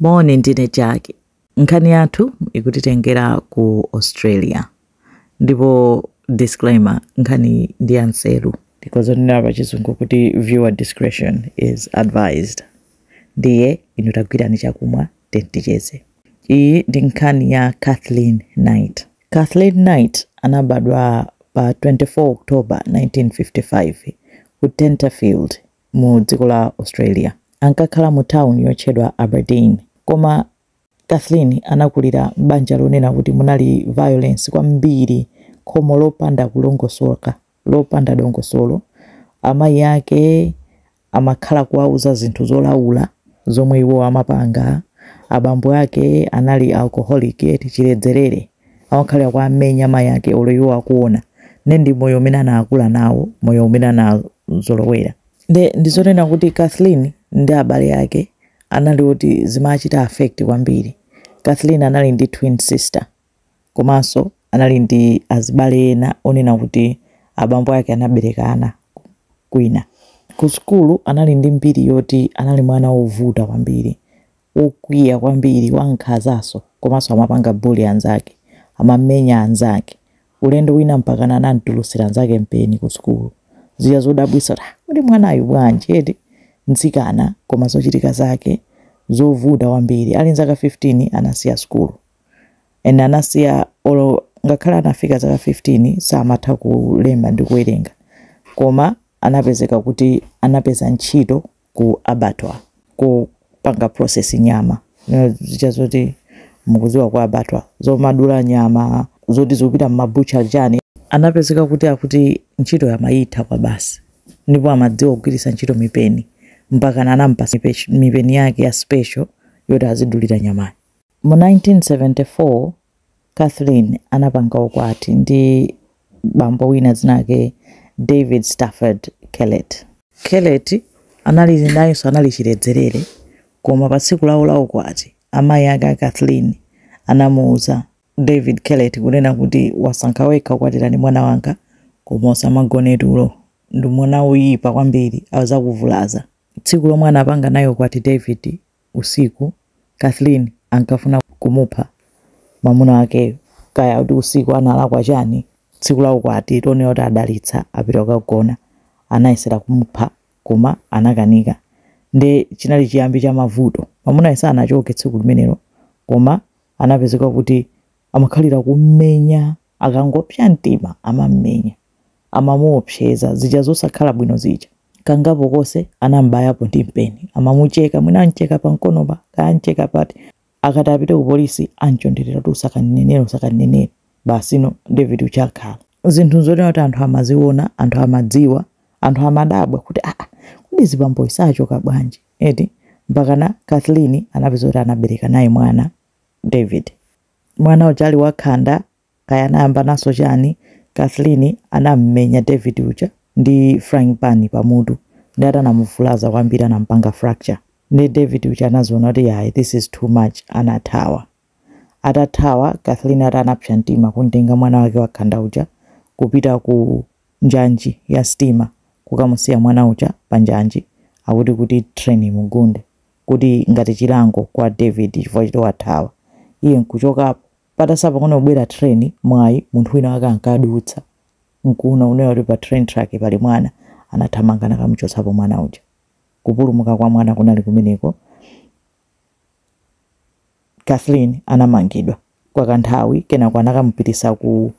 Moni, ndine Jackie. Nkhani yathu ikutitengera ku Australia ndipo disclaimer, nkhani ndi ya nseru. Ndikhoza kunena pa chizungu kuti viewer discretion is advised. Ndiye inu tagwirani chakumwa then ticheze. Iyi ndi nkhani ya Kathleen Knight. Kathleen Knight anabadwa pa 24 October 1955 ku Tenterfield, mu dziko la Australia. Ankakhala mu town yotchedwa Aberdeen. Koma Kathleen anakulira m'banja lonena kuti munali violence kwambiri, khomo lopanda kulongosoka, lopanda dongosolo. Amayi ake amakhala kuwauza zinthu zolaula zomwe iwo amapanga. Abambo ake anali alcoholic, eti chiledzerere. amakhala akuwamenya mayi ake olo iwo akuona nde ndi moyo umene anaakula nawo moyo umene anazolowera nde ndizonena kuti kathleen ndi abale ake anali oti zimachita affect kwambiri kathleen anali ndi twin sister komanso anali ndi azibale ena onena kuti abambo ake anabereka ana kwina ku sukulu anali ndi mbiri yoti anali mwana wovuta kwambiri wokwiya kwambiri, wankhazanso komanso amapanga bully anzake, amamenya anzake. Ulendo wina mpakana anam'tulutsira anzake mpeni kusukulu. Zija zodabwitsa kuti, ah, kodi mwanayu bwanji eti? Mtsikana koma zochitika zake zovuta kwambiri. Ali nzaka 15 anasiya sukulu and anasiya olo ngakhale anafika zaka 15 samatha kulemba ndi kuwerenga koma anapezeka kuti anapeza ntchito ku abattoir kopanga process nyama Nyama zija zoti mukuziwa ku abattoir zomadula nyama zoti zikupita m'mabucha chani anapezeka kuti akuti ntchito amayitha kwa basi ndipo amadziwa kugwiritsa ntchito mipeni mpakana anampasa mipe- mipeni yake ya special yoti azidulira nyamayo Mu 1974, Kathleen anapanga ukwati ndi bambo wina dzina lake David Stafford Kellett. Kellett anali, nayenso anali chiledzerere, koma pa tsiku lawo la ukwati, amayi ake a Kathleen anamuuza David Kellett kunena kuti, Wasankha wekha kukwatira ndi mwana wanga, koma usamagone tulo ndi mwana woyipa kwambiri, adzakuvulaza. Tsiku lomwe anapanga naye ukwati David usiku, Kathleen ankafuna kumupha mamuna wakeyo. Kaya kuti usiku analakwa chani, tsiku la ukwati lonena kuti adalitsa apita kukagona, anayesera kumupha koma anakanika nde chinali chiyambi cha mavuto. Mamunayo sanachoke tsiku limenelo koma anapezeka kuti amakhalira kummenya, akangopsa mtima amam'menya. amamuopseza, zija zosakhala bwino zija. Kangapo konse anam'bayapo ndi mpeni. Amamucheka, mwina am'cheka pamkonopa, kaya am'cheka pati. Akati apite kupolisi, am'chonderera kuti, Usakandinenere, usakandinenere. Basino, David uja akhala. Zinthu n'zonena kuti anthu amaziona, anthu amadziwa, anthu amadabwa kuti, Aa! Kodi azibambowa sachoka bwanji, eti? Mpakana Kathleen anapeza kuti anabereka naye mwana, David. Mwana uja ali wakhanda, kaya anayambananso chani Kathleen anamumenya David uja ndi frying pan pa mutu ndi atanamuvulaza kwambiri anamupanga fracture ndi David uja anaziona kuti ayi this is too much anathawa atathawa Kathleen ati anapsa mtima kumtenga mwana wake wakhanda uja kupita ku njanji ya stima kukamusiya mwana uja pa njanji akuti kuti train imugunde kuti ngati chilango kwa David chifukwa choti wathawa iye nkuchokapo Patatha pang'ono kubwera train, mwayi, munthu wina wake ankadutsa, nkuwona kunena kuti pa train track pali mwana, anathamanga nakamuchotsapo mwana uja. Kupulumuka kwa mwana kunali kumeneko. Kathleen anamangidwa kwa kanthawi, kenako anakamupitisa ku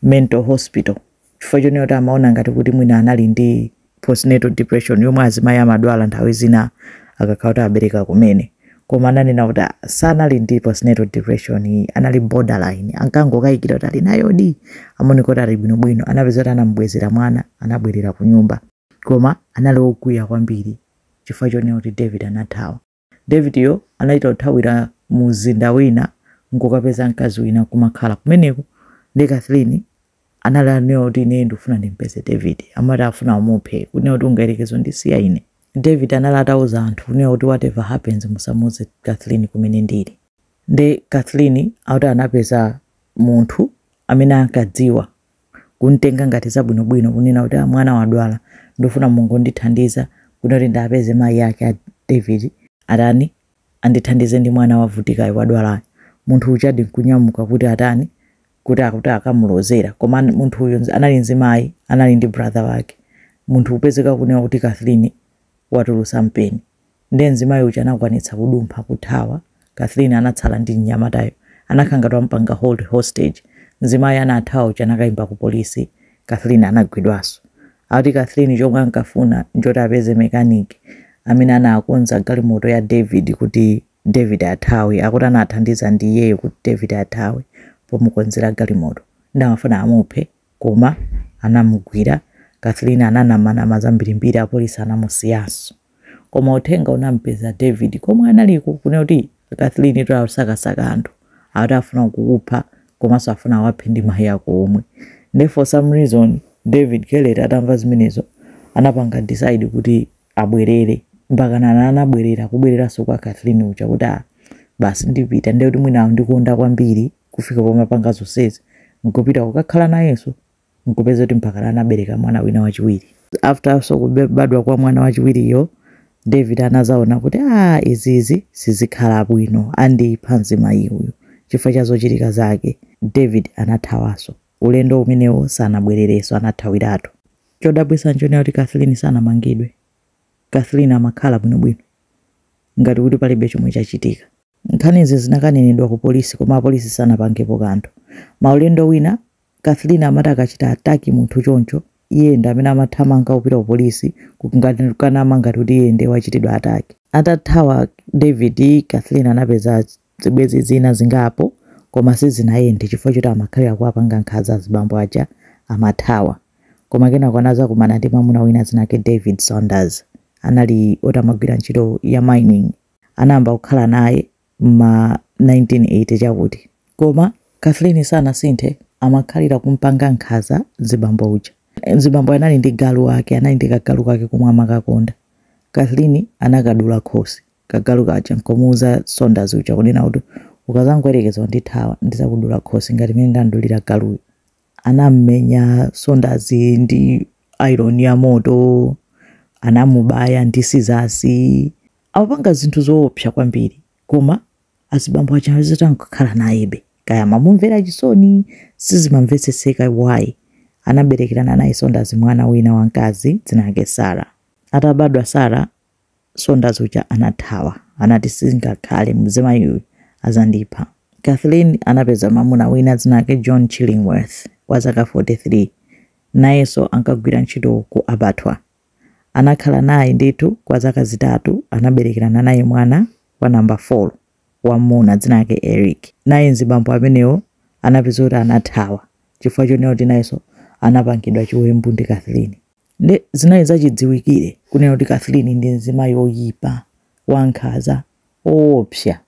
mental hospital. chifukwa chonena kuti amaona ngati kuti mwina anali ndi postnatal depression yomwe azimayi amadwala nthawi zina akakhala kuti abereka kumene koma ananena kuti "Ah, sanali ndi postnatal depression iyi anali borderline ankangokayikira kuti ali nayo di amaoneka kuti ali bwinobwino anapeza kuti anamubwezera mwana anabwerera ku nyumba koma anali okwiya kwambiri chifukwa chonena kuti david anathawa David yo anachita kuthawira mumzinda wina n'kukapeza mkazi wina n'kumakhala kumeneko. Ndiye Kathleen anali atanena kuti ineyo ndikufuna ndimupeze David. Amati afuna amuphe, kunena kuti ungayerekeze kundisiya ine? David anali atauza anthu kunena kuti whatever happens musamuuze Kathleen kumene ndili. Ndiye Kathleen akuti anapeza munthu amene ankadziwa kumtenga ngati zabwinobwino kunena kuti ah, mwana wadwala ndifuna mungondithandiza kuno kuti ndiwapeze mayi ake a david atani andithandize ndi mwana wavutikayo wadwalayo munthu ujadi nkunyamuka kuti atani kuti akuti akamulozera koma an- munthu uyu nzi- anali mzimayi anali ndi brother wake munthu kupezeka kunena kuti kathleen watulusa mpeni Ndiye mzimayi uja anakwanitsa kudumpha, kuthawa. Kathleen anatsala ndi mnyamatayo. Anakhala ngati wamupanga hold, hostage. Mzimayi anathawa uja anakayimba ku polisi. Kathleen anagwidwaso. Akuti Kathleen chomwe ankafuna nchoti apeze mechanic amene anakonza galimoto ya David kuti David athawe. Akuti anathandiza ndi iyeyo kuti David athawe pomukonzera galimoto. Ndiye amafuna amuphe. Koma anamugwira. Kathleen ananamanama zambirimbiri apolisi anamusiyanso. Koma uthenga unamupeza David komwe analiko kunena kuti Kathleen tu akusakasaka anthu. Akuti afuna kukupha komanso afuna awaphe ndi mayi ako omwe. Nde for some reason David Kellett atamva zimenezo anapanga decide kuti abwerere. Mpakana anabwerera kubwereranso kwa Kathleen uja kuti ah basi ndipita ndiye kuti mwina akundikonda kwambiri. kufika pomapanga zonsezi nkupita kukakhala nayenso nkupeza kuti mpakana anabereka mwana wina wachiwiri. After so kubadwa kwa mwana wachiwiriyo David anazaona kuti ah izizi sizikhala bwino andipha mzimayi uyu chifukwa cha zochitika zake. David anathawaso ulendo umenewo sanabwerereso anathawiratu. Chodabwisa nchonena kuti Kathleen sanamangidwe. Kathleen amakhala bwinobwino ngati kuti palibe chomwe chachitika. Nkhanizi zinakanenedwa ku polisi koma apolisi sanapangepo kanthu. Maulendo wina, Kathleen amati akachita attack munthu choncho, iye ndi amene amathamanga kupita ku polisi kukanama ngati kuti iye ndiye wachitidwa attack. Atathawa David, Kathleen anapeza zibwenzi zina zingapo koma sizinayende chifukwa choti amakhalira kuwapanga nkhanza azibambo aja amathawa. Koma kenako anazakumana ndi mwamuna wina dzina lake David Saunders. Anali oti amagwira ntchito ya mining. anayamba kukhala naye mma 1980 chakuti koma Kathleen sanasinthe amakhalira kumpanga nkhaza mzibambo uja. Mzibamboyo anali ndi galu wake anali ndi kagalu kake komwe amakakonda. Kathleen anakadula khosi kagalu kaja nkomuuza Saunders uja kunena kuti ukazangoyerekeza kundithawa ndizakudula khosi ngati mmene ndamdulira galuyu. anamumenya Saunders ndi iron ya moto anamubaya ndi sizasi amapanga zinthu zoopsa kwambiri koma azibambo aja zitangokhala nayebe kaya amamumvera chisoni sizimamvetsetseka why anaberekerana naye Saunders mwana wina wamkazi dzina lake sara atabadwa sara Saunders uja anathawa. Anati, Sizingakhale, mzimayiyu adzandipha. Kathleen anapeza mwamuna wina dzina lake John Chillingworth wa zaka 43. Nayenso ankagwira ntchito ku Abattoir. Anakhala naye ndithu kwa zaka zitatu, anaberekerana naye mwana wa namba 4, wam'muna dzina lake Eric. Naye mzibambo amenewo anapeza kuti anathawa chifukwa chonena kuti nayenso anapangidwa chiwembu ndi Kathleen. Nde zinali zachidziwikire kunena kuti Kathleen ndi mzimayi oyipa, wankhaza, owopsa.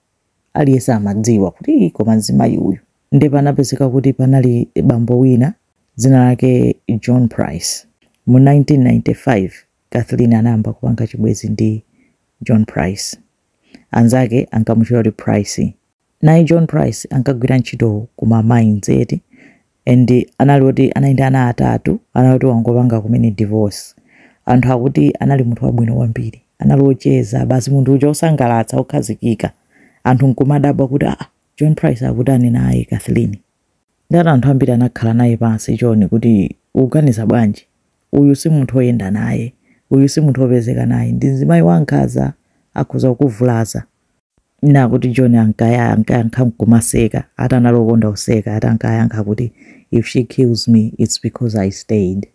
Aliyense amadziwa kuti ii koma mzimayi uyu. Nde panapezeka kuti panali bambo wina dzina lake John Price. Mu 1995 Kathleen anayamba kupanga chibwezi ndi John Price. Anzake ankamutchula kuti Pricey. Naye John Price ankagwira ntchito ku ma mines eti and anali oti anali ndi ana atatu anali oti wangopanga kumene divorce anthu akuti anali munthu wabwino kwambiri anali ocheza basi munthu uja osangalatsa okhazikika anthu nkumadabwa kuti aa John Price akutani naye Kathleen ndati anthu ambiri anakhala naye pansi John kuti ukuganiza bwanji uyu si munthu oyenda naye uyu si munthu opezeka naye ndi mzimayi wankhanza akhoza kukuvulaza nakuti john ankaya ankayankha nkumaseka ati anali okonda kuseka ati ankayankha kuti if she kills me its because i stayed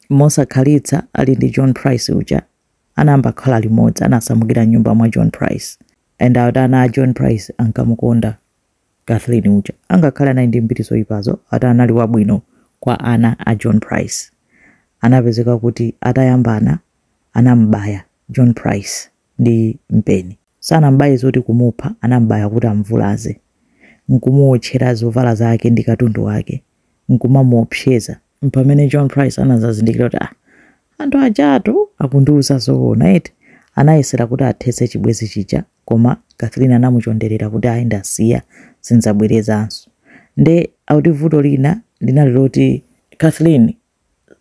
mosakhalitsa ali ndi john price uja anayamba kukhala limodzi anasamukira m'nyumba mwa john price and ati ana a john price ankamukonda kathleen uja angakhale anali ndi mbiri zoyipazo ati anali wabwino kwa ana a john price anapezeka kuti atayambana anamubaya john price ndi mpeni Sanam'baye zoti kumupha, anam'baya kuti am'vulaze, n'kumuwotchera zovala zake ndi katundu wake, n'kumamuopseza. M'pamene John Price anadzazindikira kuti, Ah, anthu ajatu akundiuza zoona eti! Anayesera kuti athetse chibwenzi chija, koma Kathleen anamuchonderera kuti, Ayi ndasiya, sin'dzabwerezanso. Nde akuti vuto lina linali loti. Kathleen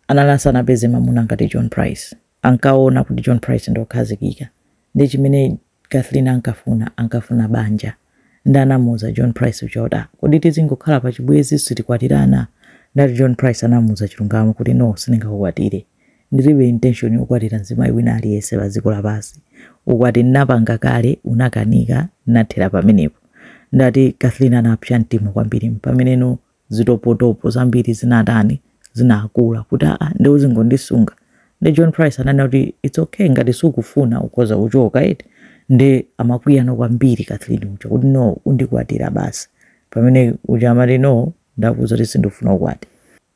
anali asanapeze mamuna ngati John Price. Ankaona kuti John Price ndi okhazikika. Ndi chimene Kathleen ankafuna, ankafuna banja. Nde anamuuza John Price uja kuti, ah, kodi tizingokhala pa chibwezi sitikwatirana? Ndati John Price anamuuza chilungamo kuti no, sindingakukwatire. Ndilibe intention yokwatira mzimayi wina aliyense pa dziko lapansi. Ukwati ndinapanga kale, unakanika, ndinathera pamenepo. Ndati Kathleen anapsa mtima kwambiri mpameneno zitopotopo zambiri zinatani zinakula kuti aa nde uzingondisunga nde john price ananena kuti its okay ngati sukufuna ukhoza kuchoka eti nde amakwiyanso kwambiri kathleen uja kuti no undikwatira basi pamene uja amati no ndakuza kuti sindifuna ukwati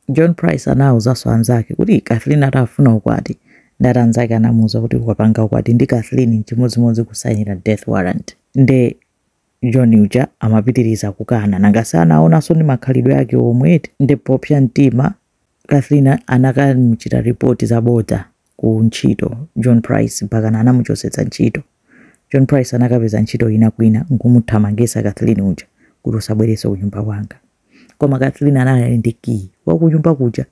john price anawuzanso anzake kuti kathleen atafuna ukwati ndati anzake anamuwuza kuti ukapanga ukwati ndi kathleen nchimodzimodzi kusayinira death warrant nde John uja amapitiriza kukana. Nanga si anaonanso ndi makhalidwe ake omwe eti? Nde popsa mtima, Kathleen anakamuchita report zabodza ku ntchito John Price mpakana anamuchotsetsa ntchito. John Price anakapeza ntchito ina kwina n'kumuthamangitsa Kathleen uja kuti usabwerenso kunyumba kwanga. Koma Kathleen anali ali ndi kiyi wa kunyumba kuja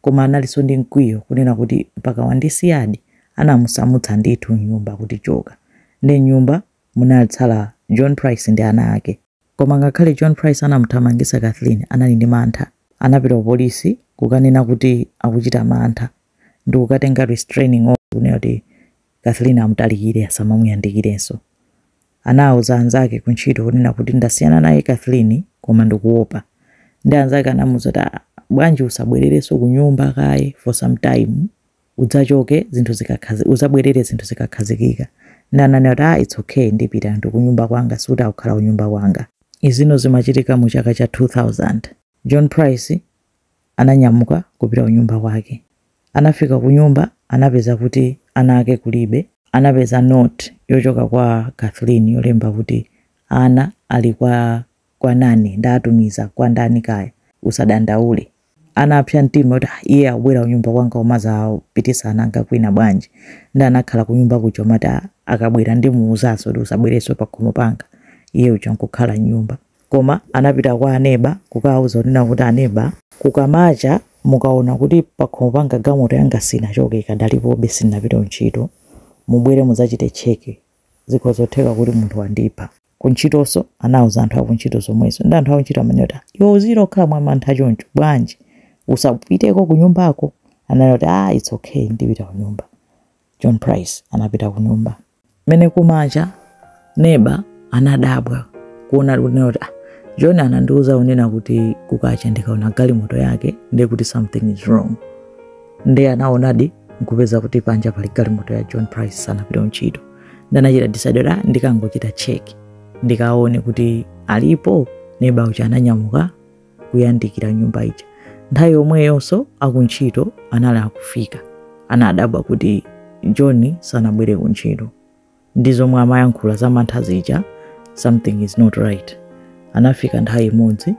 koma analinso ndi mkwiyo kunena kuti mpaka wandisiyadi. Anamusamutsa ndithu m'nyumba kuti choka. Nde m'nyumba Munatsala John Price ndi ana ake. Koma ngakhale John Price anamuthamangitsa Kathleen anali ndi mantha. Anapita ku polisi kukanena kuti akuchita mantha ndikukatenga restraining order kunena kuti Kathleen amutalikire asamamuyandikirenso. Anauza anzake ku ntchito kunena kuti ndasiyana naye Kathleen koma ndikuopa. Ndi anzake anamuuza kuti ah bwanji usabwererenso kunyumba kaye for some time. udzachoke zinthu zikakhazi, uzabwerere zinthu zikakhazikika nde ananena kuti aah its okay ndipita ndikunyumba kwanga sikuti akukhala kunyumba kwanga. Izino zimachitika mu chaka cha 2000. John Price ananyamuka kupita kunyumba kwake. Anafika kunyumba anapeza kuti ana ake kulibe. Anapeza note yochokera kwa Kathleen yolemba kuti ana ali kwa nani? Ndatumiza kwa ndani kaya? Usadandaule. Anapsa mtima kuti, ah, iye abwera kunyumba kwanga kumadzapititsa ana anga kwina bwanji? Ndi anakhala kunyumba kuja kumati, ah, akabwera ndimuuzanso kuti usabwerenso pakhomo panga. Iye uja nkukhala m'nyumba. Koma anapita kwa aneba kukawauza kunena kuti, Aneba, kukamacha mukaona kuti pakhomo panga galimoto yanga sinachoke ikadalipobe sinapite kuntchito, mubwere mudzachite cheke. Zikhoza theka kuti munthu wandipha. kuntchitonso anauza anthu akuntchito zomwezo ndi anthu akuntchito amanena kuti "Ah, iwe uzikhala mwamantha choncho bwanji usapiteko kunyumbako ananena kuti ah its okay ndipita kunyumba john price anapita kunyumba mene kumacha neba anadabwa kuona kunena kuti ah, john anandiuza kunena kuti kukacha ndikaona galimoto yake ndiye kuti something is wrong ndiye anaonadi nkupeza kuti panja pali galimoto ya john price sanapita kuntchito ndanachita decide kuti ah, ndikangochita check ndikaone kuti alipo neba uja ananyamuka kuyandikira nyumba ija nthawi yomweyonso akuntchito anali akufika anadabwa kuti john sanabwere kuntchito ndi zomwe amayankhula za mantha zija something is not right anafika nthawi imodzi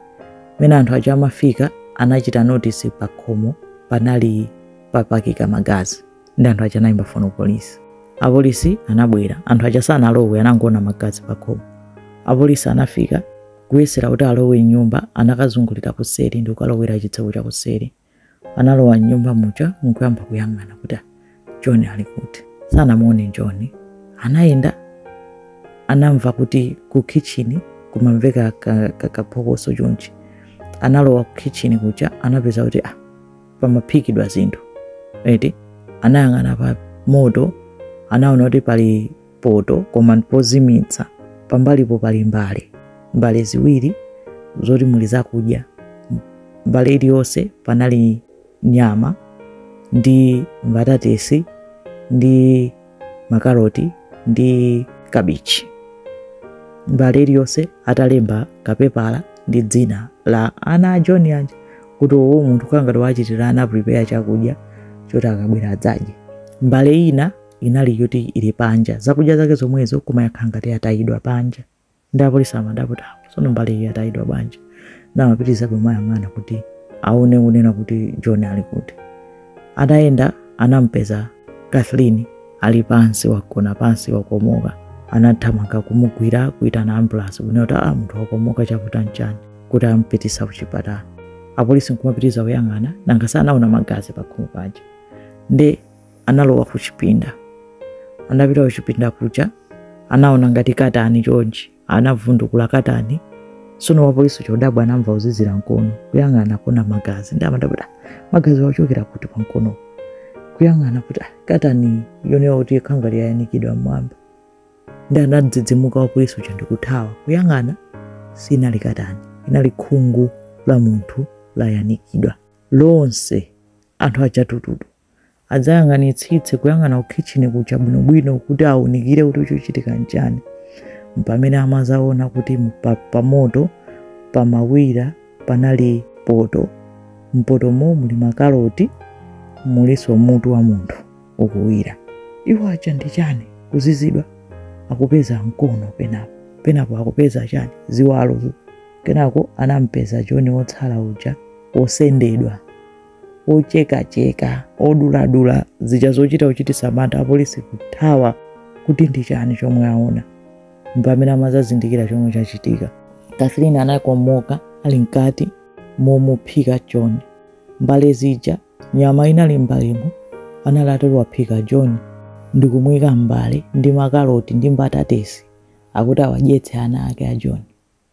mene anthu aja amafika anachita notice pakhomo panali papakika magazi ndi anthu aja anayimba foni ku polisi apolisi anabwera anthu aja sanalowe anangoona magazi pakhomo apolisi anafika kuyesera kuti alowe mnyumba anakazungulira kuseri ndi kukalowera chitseko cha kuseri analowa mnyumba muja nkuyamba kuyang'ana kuti "Ah, john ali kuti sanamuone john anayenda anamva kuti ku kitchini kumamveka ka- ka- kaphokoso chonchi analowa ku kitchini kuja anapeza kuti ah, pamaphikidwa zinthu eti anayang'ana pa moto anaona kuti pali poto koma ndipozimitsa pambalipo pali mbale mbale ziwiri zoti muli zakudya mbale iliyonse panali nyama ndi mbatatesi ndi makaroti ndi kabichi mbale iliyonse atalemba kapepala ndi dzina la ana a john aja kuti uwu munthu kangati wachitira ana prepare chakudya choti akabwera adzadye mbale ina inali yoti ili panja zakudya zake zomwezo koma yakhala ngati atayidwa panja ndi apolisi amadabwa kuti sono mbale iyi yatayidwa bwanji ndi amapitirizabe kumayang'ana kuti aone kunena kuti john ali kuti atayenda anampeza kathleen ali pansi wagona pansi wakomoka anathamanga kumugwira kuitana ambulasi kunena kuti a munthu wakomoka chavuta nchani kuti ampititse kuchipatala apolisi nkumapitiriza kuyang'ana nanga sanaona magazi pakhomo paja ndi analowa kuchipinda anapita kuchipinda kuja anaona ngati katani chonchi anavundukula katani sono wapolisi chodabwa anamva kuzizira mkono kuyang'ana kuona magazi ndi amadabwa "Ah, magaziwa achokera kuti pa mkono kuyang'ana kuti "Ah, katani uone ngati khanga layanikidwa mmwamba ndi anadzidzimuka wapolisi uja ndikuthawa kuyang'ana sinali katani inali khungu la munthu layanikidwa lonse anthu achatututu adzayang'anitsitse kuyang'ana kukhitchini kuja bwinobwino kuti aunikire kuti chochitika nchani mpamene amazaona kuti mpa- pamoto pamawira panali poto mpotomo muli makaroti mulinso mutu wa munthu ukuwira iwo aa ichi ndi chani kuzizwa akupeza mkono penapo penapo akupeza chani ziwalo kenako anampeza john wotsala uja wosendedwa wochekacheka woduladula zija zochita kuchititsa mantha apolisi kuthawa kuti ndi chani chomwe aona mpamene amazazindikira chomwe chachitika kathleen anakomoka ali mkati momuphika john mbale zija nyama inali mbalemo anali atawaphika john ndikumuyika m'mbale ndi makaroti ndi mbatatesi akuti awadyetse ana ake a john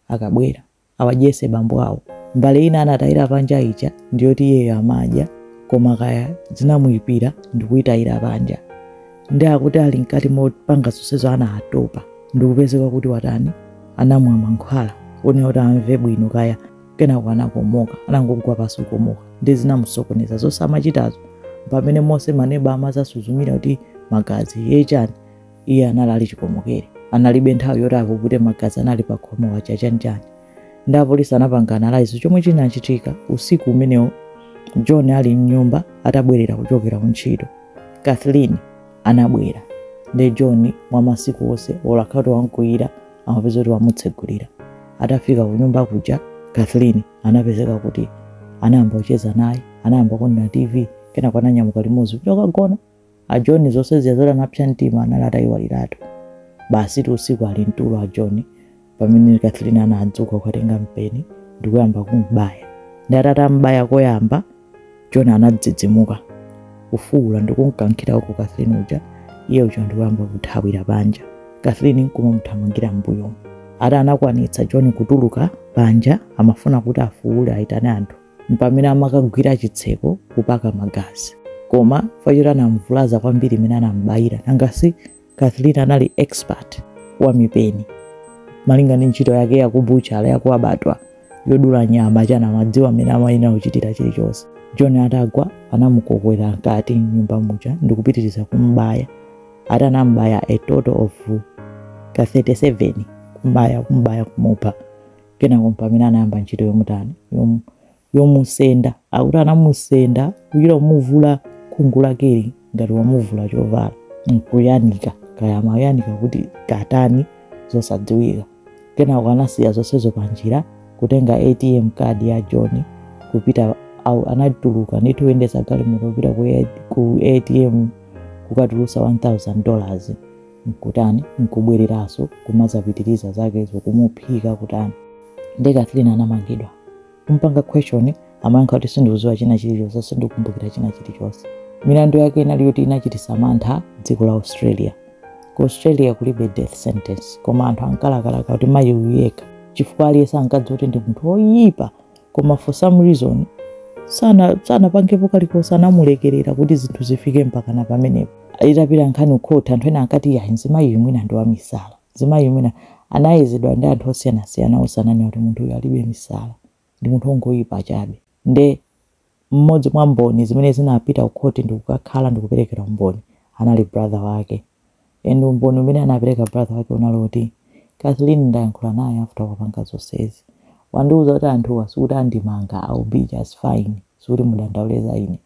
akabwera awadyetse bambo awo mbale ina anatayira panja ija ndiyoti iyeyo amadya koma kaya zinamuyipira ndikuyitayira panja ndi akuti ali mkati mopanga zonsezo anatopa ndikupezeka kuti watani anamwa mankhwala mwina kuti amve bwino kaya kenako anakomoka anangogwa pansi kukomoka ndi zinamusokoneza zonse amachitazo pamene monse maneba amazasuzumira kuti magazi ngachani iye anali ali chikomokere analibe nthawi yoti apukute magazi anali pa khomo aja chanichani ndi apolisi anapanga analyze chomwe chinachitika usiku umenewo john ali mnyumba atabwerera kuchokera kuntchito kathleen anabwera ndiye john mwa masiku onse olakhatu wamkwiyira anapezeka kuti wamutsegulira atafika kunyumba kuja kathleen anapezeka kuti anayamba kucheza naye anayamba kuonera tv kenako ananyamuka limodzi kuti akagona A John zonse zija zoti anapsa mtima anali atayiwaliratu. Basitu usiku ali mtulo a John pamene Katherine anadzuka kukatenga mpeni ndi kuyamba kum'baya. Nde ati atam'baya koyamba, John anadzidzimuka, kufuwula ndi kumkankhira uko Katherine uja, iye uja ndi kuyamba kuthawira panja. Katherine nkumamuthamangira m'mbuyomo. Ati anakwanitsa John kutuluka panja, amafuna kuti afuwule ayitane anthu. mpamene amakagwira chitseko kupaka magazi koma fact yoti anamvulaza kwambiri mmene anambayira nanga si katherine anali expert wa mipeni malinga ndi ntchito yake yakubuchala yaku abattoir yodula nyama chana amadziwa mmene amayenera kuchitira chilichonse john atagwa anamukokera mkati mnyumba muja ndikupitiriza kumbaya ati anambaya a total of ka 37 kumbaya kumbaya kumupha kenako mpamene anayamba ntchito yomutani yom, yomusenda akuti anamusenda kuchita kumuvula khungu lakeli ngati wamuvula chovala nkuyanika kaya amayanika kuti katani zosadziwika kenako anasiya zonsezo panjira kutenga atm card ya john kupita au- anatuluka ndithu kuyendetsa galimoto kupita ku A- ku atm kukatulusa 1000 dollars nkutani nkubwereraso kumazapitiriza zake zokumuphika kutani nde Katherine anamangidwa kumpanga question amayankha kuti sindikuziwa china chilichonse sindikumbukira china chilichonse milandu yake inali yoti inachitisa mantha dziko la Australia ku Australia kulibe death sentence koma anthu ankalakalaka kuti mayi uyu yekha chifukwa aliyense ankadziwa kuti ndi munthu woyipa koma for some reason sana sanapangepo kalikonse anamulekerera kuti zinthu zifike mpakana pamenepo itapita nkhani ukhoti anthu ena ankati yayi mzimayi uyu mwina ndi wamisala mzimayi uyu mwina anayezedwa ndi anthu osiyanasiyana onse ananena kuti munthu uyu alibe misala ndi munthu wongoyipa chabe nde mmodzi mwa mboni zimene zinapita ukhoti ndikukakhala ndikuperekera umboni anali brother wake and umboni umene anapereka brother wake unali woti katherine ndayankhula naye after wapanga zonsezi wandiuza kuti anthuwa sikuti andimanga i'll be just fine sikuti mudandaule za ine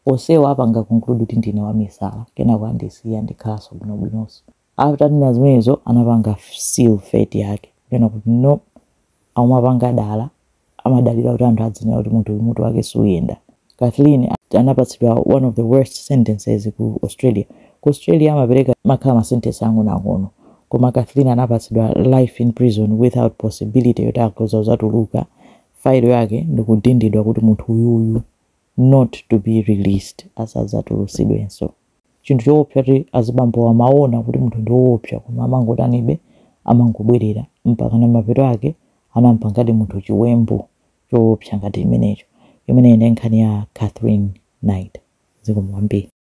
onsewa apanga conclude kuti ndine wamisala kenako andisiya ndikhalanso bwinobwinonso after atanena zimenezo anapanga seal fate yake kunena kuti no akumapanga dala, amadalira kuti anthu adzinena kuti munthu uyu mutu wake suyenda. Katherine anapatsidwa one of the worst sentences ku Australia. Ku Australia amapereka amakhala ma sentence ang'onoang'ono koma Katherine anapatsidwa life in prison without possibility yoti akhoza kuzatuluka, file yake ndikudindidwa kuti munthu uyuyu not to be released asadzatulutsidwenso. chinthu choopsa kuti azibambowa amaona kuti munthu ndi woopsa koma amangotanibe amangobwerera mpakana mapeto ake anampangadi munthu chiwembu choopsa ngati chimenecho imeneyi ndi nkhani ya katherine knight zikomo kwambiri